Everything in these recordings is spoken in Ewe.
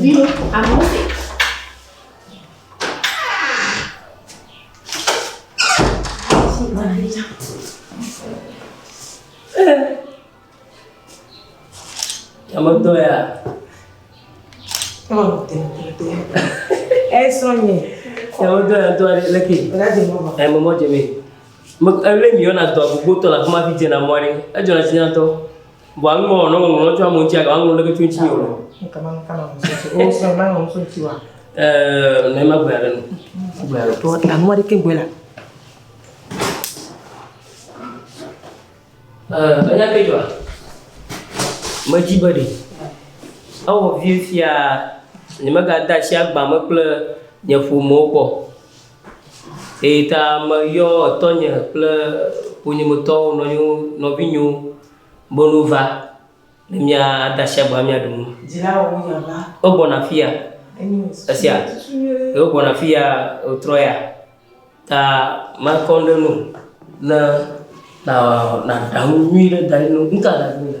Viwo, amewo le. Ametɔ ya. Oh, damn, damn, damn. Eh, Sonny. Ametɔ ya tɔ ale leke. Ela dze mɔ ma. Eh, mɔmɔ dze mi. Ele mi yɔna dɔ gbogbo tɔ la kuma fi dze na mɔ aɖe. Edzɔ na si na tɔ. Vɔa nu mɔ nɔ ŋlɔ tso amewo ŋuti agba ŋlɔ ɖeke tso ŋuti o. Kama kama o sɔ ma ŋlɔ tso ŋuti wa. Ɛɛ ne ma gbe aɖe no. Gbe aɖe. Tɔ amua ɖeke gbe la. Ɛɛ enya ke jɔa. Me dzi be ɖe. Ewɔ vie fia ne mega da asi agba me kple nye ƒomewo kɔ. Eyi ta meyɔ etɔnye kple ƒonyemetɔwo, nɔnyewo, nɔvinyewo be nu va, ne mía ade asi agba mía ɖu nu. Dzilawo wo nya va. Wo gbɔna afi ya. Esia, wo gbɔna afi ya wo trɔ ya. Ta makɔ ɖe nu ne na na ɖaŋu nyui ɖe da ɖi nu. Nuka ɖaŋu le?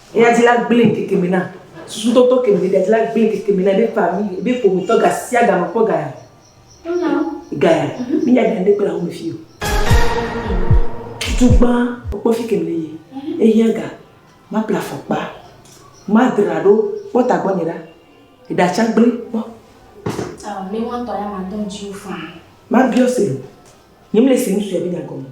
Eya dzi la gblẽe keke me na susutɔtɔ ke me ɖeɖea dzi la gblẽe keke me na eƒe fami, eƒe ƒometɔ gasiagame kpɔ gaya. Gaya, mínya ɖe aɖe kpe le ahome fi o. Tutu gbã wokpɔ fi ke me le ye, ehiã ga, maple afɔkpa, madra ɖo kpɔ ta gbɔnye ɖa, eɖa tsã gblẽ kpɔ. Aa, ne woatɔ ya madɔ ŋuti wo faa. Mabiɔ se, nyemle se ŋutsua be nya gɔme o.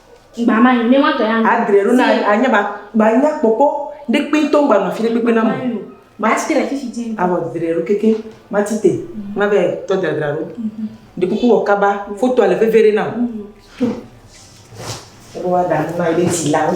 Adre ɖo na anya ba ba nya kpɔkpɔ ɖe kpe tɔ ŋgba nɔ fi ɖe kpekpe na mo. Mati te fifi dze. Abɔ dre ɖo keke mati te ma be tɔ dradra ɖo. Ɖe kuku wɔ kaba fotoa le veve ɖe na. Ɖo wa da na yi ɖe ti la wo.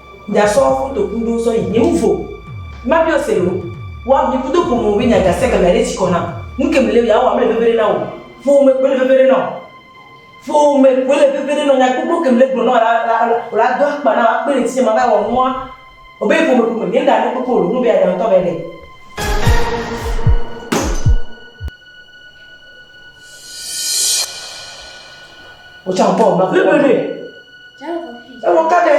Gasɔ kotoku ɖo sɔ yi ni ŋ vo. Ma biɔ se lo. Wa mi kudo ƒome be nya gase gamea ɖe tsikɔ nam. Nuke mi le ya wa mele veve ɖe na o. Ƒo me koe le veve ɖe na o. Ƒo me koe le veve ɖe na o. Nya gbogbo ke mi le gblɔ na wa la la la do akpa na wa kpe ɖe ŋtinye ma va yi wɔ nua. O be ƒome ƒome mi ŋɖa nu kpekpe o lo. Nu be ya ɖa ŋtɔ va yi ɖe. O tsa ŋkpɔ o ma ƒo. Veve ɖe. Ewɔ ka ɖe?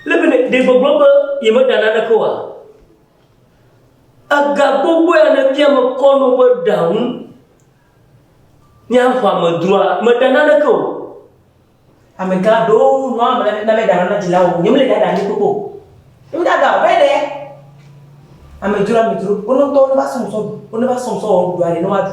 Le be ɖe gbɔgblɔ be yemeɖa naneke oa? Ega gbogbo ya ne fia mekɔ no be ɖa ŋu. Mía xɔa me droa, meɖa naneke o. Amegã ɖo nua me na na meɖa nana dzilawo. Nyemele ɖa ɖa ne kpokpo. Nyemeda ɖa o, be ɖe. Amedzro amedzro, wo ne tɔ ne va sɔm sɔ, wo ne va sɔm sɔ wɔ ɖuɖu aɖe ne woaɖu.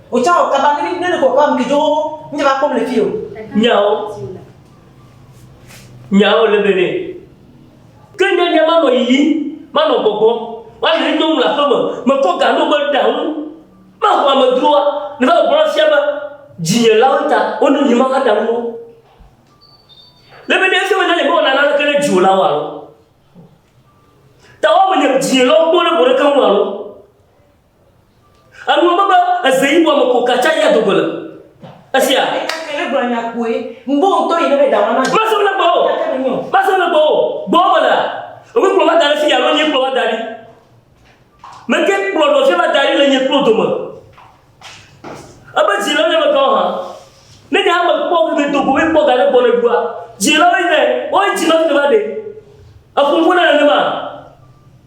Wotsã wɔ kaba ne ne ko kaba mke jo nye va kpɔm le fi o. Nyawo. Nyawo le be ne. Ke nye nye manɔ yiyi, manɔ gbɔgbɔ, wale ne nyɔnu le aƒe me, mekɔ ga no be ɖa ŋu. Maho amedroa, ne va gbɔgbɔ la fia be dzinye la wo ta, wo ne nyi ma va ɖa ŋu wo. Le be ne ese be ne le mewɔ nana le ke ne dziwo la wo alo. Ta wa me nye dzinye la wo kpɔ le bo ɖe ke ŋu alo. Enu ebe be eze yi bɔ me ko katsa yi ado gole. Esia. Ele gblɔ nya koe. Ŋbo ŋutɔ yi ne be dawana. Masem le gbɔ o. Masem le gbɔ o. Gbɔ me la. Omi kplɔ va da ɖe fi ya lo nye kplɔ va da ɖi. Meke kplɔ ɖɔ fi va da ɖi le nye kplɔ dome. Ebe dzi le ne me kawo hã. Ne nye hã me kpɔ ke ke dogo me kpɔ ga ne gbɔ ne dua. Dzi le ne ne. Oi dzi ma fi va de. Efunfun ne ne ma.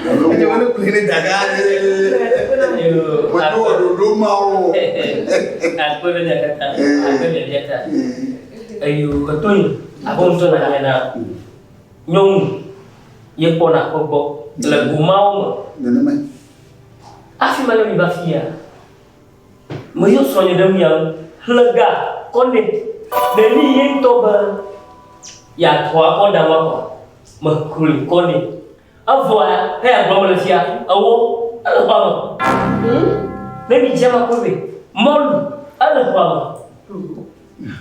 Eɖe wele kuli ne daga. Wòdo wɔ ɖoɖo ma wo. Akpɔ ɖe daga ta. Akpɔ ɖe daga ta. Eyo etɔ yi. Akpɔ ŋutɔ na yɛ na. Nyɔnu. Yɛ kpɔ na kpɔ gbɔ. Le goma wo me. Nenema. Afi ma ne mi va fi ya. Me yɔ srɔ̃ nye ɖe mi ya. Hlega. Kɔne. Ɖe ni yɛ ŋutɔ be. Yɛ atɔ akɔ da ma kɔ. Me kuli kɔne. Evɔa ya, ne ya gblɔ me le fia, ewo, ele xɔa me. Hm? Ne mi dze ma koe be, mɔlu, ele xɔa me.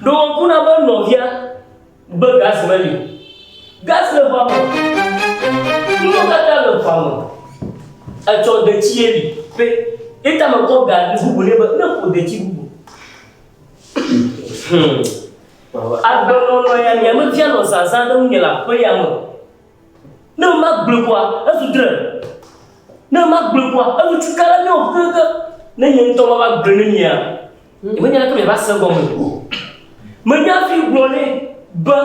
Ɖo ŋku na be nɔvia gbe gas me li. Gas le xɔa me. Nuwo kata le xɔa me. Etsɔ detsi ye li. Pe, eta me kɔ ga bubu ne be, ne ƒo detsi bubu. Hm. Agbenɔnɔ ya, mia me fia nɔ zazã ɖe ŋunye le aƒe ya me. Ne magblɔe koa, ezu dre. Ne magblɔe koa, enu tsi ka ɖe mía ŋu kekeake. Ne nye ŋutɔ mava gblɔe ne mia, nyemenye aleke miava se egɔme o. Menya hafi gblɔ nɛ be,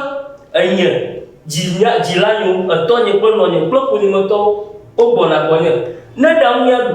Enye, dzi mía, dzilanyeo, etɔnye kple nɔnye kple ƒonyemetɔwo, wogbɔna gbɔnye. Ne ɖaŋu míaɖu.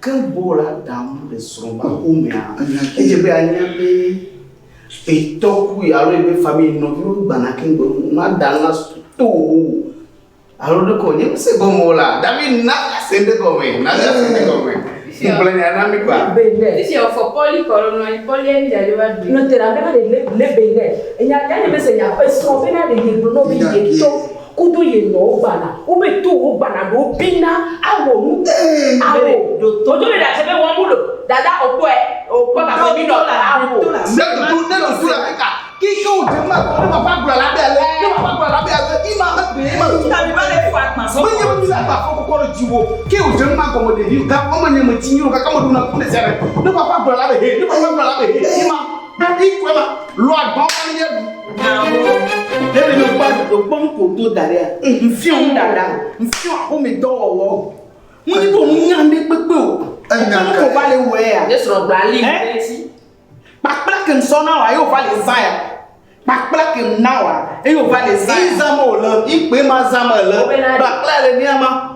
Ke Bo la dam le srɔ̃ ƒe aƒe mea, edze be yeanya be fetɔ kui alo yi be famili nɔviwo gbana keŋ gbe nu. Mada la to wò alo ɖe ko nye ŋusẽ gɔme o la, David na ase ɖe gɔme, na ase ɖe gɔme. Ŋugblɔ nya na mi kpa. Esi wòfɔ Pɔli kɔ ɖo nɔa, Pɔlia yi ɖaɖe va ɖui. Nɔte la bena ɖe lebe nɛ. Enya nya nye mese nya esrɔ̃ bena ɖe yegblɔ nɔ be yetɔ. Kudo ye nɔ wo gbana. Wo be to wo gbana ɖo bina awɔ nu ee awo. Wo jo be ɖa sebe wɔn mu lo. Dada o kpɔɛ o kpɔ gagbe mi nɔ ta awo. Ne tutu ne tutu la kika ki ke o jema kɔ ne ma fa gula la be ale ne ma fa gula la be ale ki ma ha be ma tu. Tabi ba le fa kpa so. Me nye mi la ba fɔ kɔkɔ re jiwo ke o jema kɔ mo de vi ga kɔ me nye me ti nyro kaka mo do na ku ne sere ne ma fa gula la be he ne ma fa gula la be he ki ma. Bɛbi kɔe ma, lɔ agbɔn ma ni yɛ ɖu. Bɛbi mi kpɔ adodo kpɔ nu ko do da ɖe ya. Nfiɔ nu dada, nfiɔ axome dɔ wɔwɔ. Mu ni ko nu nya ne kpekpe o. Enya nu ko va le wɔ ya. Ne srɔ gba li mi ne ti. Kpakpla ke nsɔ na wa ye o va le zan ya. Kpakpla ke na wa ye o va le zan. Izan mo le, ikpe ma zan me le. Kpakpla le ni ama.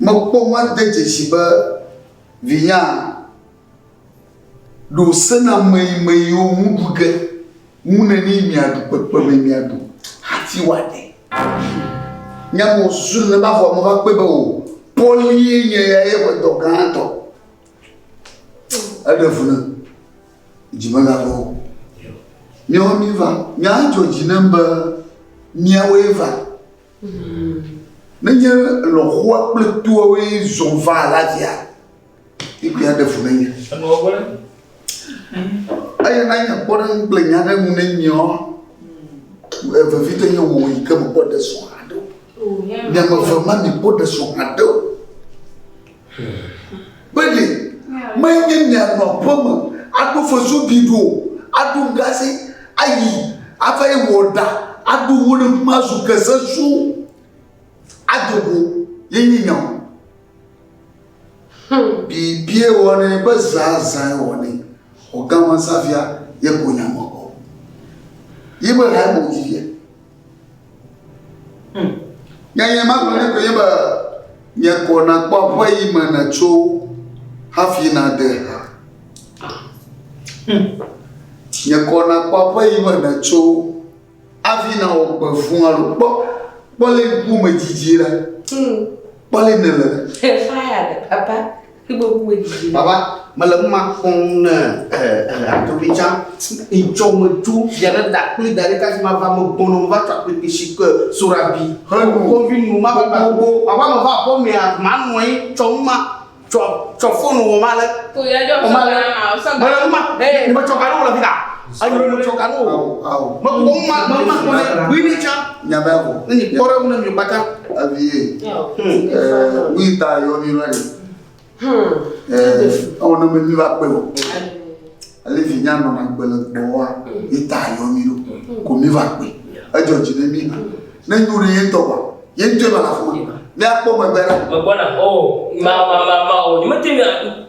Mekpɔ woade dzesi be vinyaa ɖo sena meyimeyiwo ŋu ɖu ge ŋu neni miaɖu kpekpeme miaɖu hati woade. Nya me wòsusu nene ba vɔa meva kpɔe be o, Pɔlie nye ya ye ƒe dɔ gãtɔ. Eɖe fu ne dzi megava o. Míawo míva, nyaa dzɔ dzi nem be míawoe va. Nenye lɔ̃xoa kple toawoe zɔ va la dzea egbea ɖe fu nenye. Eye nanye kpɔɖeŋu kple nya ɖe ŋu nenye ɔ, vevitɔ nye wò yi ke mekpɔ ɖe srɔ̃ haɖe o. Nye me ve ma mi kpɔ ɖe srɔ̃ haɖe o. Bene, menye mianɔ aƒe me aɖo fesuɖiɖi o, aɖu ŋgasi ayi ava yi wɔ ɖa, aɖu ŋu ɖe fi ma zu ke sesu ado go ye nye nya o. Hmm. Bibie wɔnɛ be zã zã wɔnɛ. Ɔgãma safia ye ko nya mɔkɔ. Ye be ha mo ti ye. Nyanya ma gblɔ nɛ koe be nye kɔ nakpɔ aƒe yi me nètso hafi nade ha. Nye kɔ nakpɔ aƒe yi me nètso hafi nawɔ gbe fũ alo kpɔ kpɔ le ŋkume dzidzi ɖe. Kpɔ le nele. Fire papa. Baba, mele nu ma kpɔm ne adovica itsɔ me tu via ɖe da kpli da ɖe kasi ma va me gbɔnɔ va tsa kpekpe si ke sora bi. Henu kɔvi nu ma va gbogbo. Baba me va kɔ mea ma nɔ anyi tsɔ nu ma tsɔ tsɔ fonu wɔ ma le. Ko ya jɔ. Wɔ ma le. Mele nu ma. Metsɔ ka ɖo le fi ta. Anyɔnutsɔ ka no o. Ao. Me kpɔ ma ma ma kpɔ ne wí ne tsa. Nya bɛ o. Ne kpɔ ɖe ne mi bata. Abi ye. Ɛɛ wí ta yɔ ni lɔ ni. Hmm. Ɛɛ ɔ ne mi va kpe o. Ale vi nya nɔ na gbe le gbɔ wa. Yi ta yɔ ni do. Ko mi va kpe. Edzɔ dzi ne mi. Ne nyu ɖe ye tɔ wa. Ye ŋtɔ ma la fɔ. Ne akpɔ me bɛ la. Me gbɔ na. O ma ma ma ma o. Ni me te na.